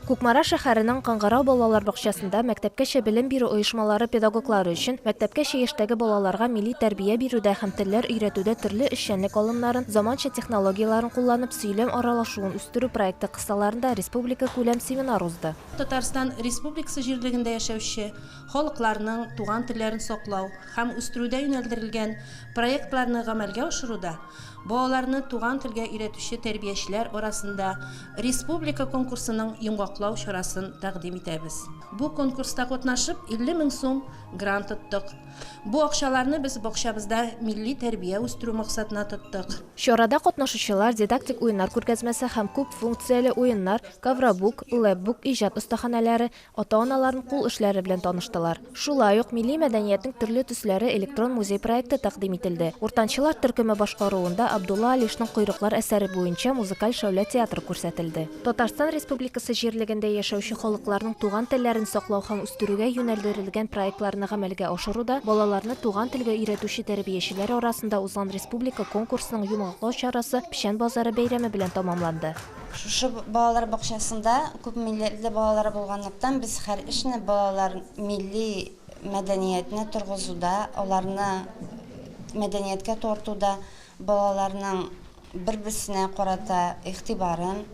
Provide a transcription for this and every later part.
Кукмара шәһәренең Кыңгырау балалар бакчасында мәктәпкәчә белем бирү оешмалары педагоглары өчен мәктәпкәчә яшьтәге балаларга милли тәрбия бирүдә һәм телләр өйрәтүдә төрле эшчәнлек алымнарын, заманча технологияләрен кулланып, сөйләм аралашуын үстерү проекты кысаларында республикакүләм семинар узды. Татарстан Республикасы җирлегендә яшәүче, Халыкларның туган телләрен саклау һәм үстерүдә юнәлдерелгән проектларны гамәлгә ашыруда балаларны туган телгә өйрәтүче тәрбиячеләр арасында республика конкурсының йомгаклау чарасын тәкъдим итәбез. Бу конкурста катнашып, 50 мең сум грант оттык. Бу акчаларны без бакчабызда милли тәрбия үстерү максатына тоттык. Чарада катнашучылар дидактик уеннар күргәзмәсе һәм күп функцияле уеннар, ковробук, лэпбук иҗат остаханәләре, Ата-аналарын кул эшләре белән таныштылар. Шулай ук милли мәдәниятнең төрле төсләре электрон музей проекты тәкъдим ителде. Уртанчылар төркеме башкаруында Абдулла Алишның Койрыклар әсәре буенча музыкаль шәүлә театры күрсәтелде. Татарстан Республикасы җирлегендә яшәүче халыкларның туган телләрен саклау һәм үстерүгә юнәлдерелгән проектларны гамәлгә ашыруда балаларны туган телгә өйрәтүче тәрбиячеләр арасында узган республика конкурсының йомгаклау чарасы Печән базары бәйрәме белән тәмамланды. Шушы балалар бакчасында күп милләтле балалар булганлыктан, без һәр эшне балалар милли мәдәниятне торгызуда, аларны мәдәнияткә тартуда, балаларның бер-берсенә карата игътибарын,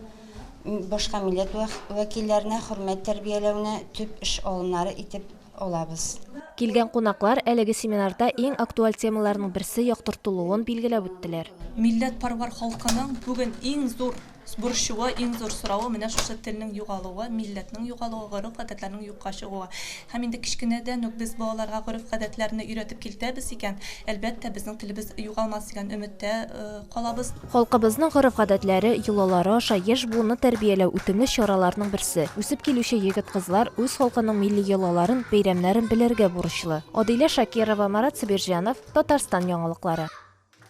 башка милләт вәкилләренә хөрмәт тәрбияләүне төп эш алымнары итеп алабыз. Килгән кунаклар әлеге семинарда иң актуаль темаларның берсе яктыртылуын билгеләп үттеләр. Милләтпарвар халкының бүген иң зур борчуы, иң зур соравы менә шушы телнең югалуы, милләтнең югалуы, гореф-гадәтләрнең юкка чыгуы. Һәм инде кечкенәдән үк без балаларга гореф-гадәтләрне өйрәтеп килтәбез икән, әлбәттә, безнең телебез югалмас дигән өметтә Калабыз. Халкыбызның гореф-гадәтләре, йолалары аша яшь буынны тәрбияләү үтемле чараларның берсе. Үсеп килүче егет-кызлар үз халкының милли йолаларын, бәйрәмнәрен белергә бурычлы. Адилә Шакирова, Марат Сабирҗанов, Татарстан яңалыклары.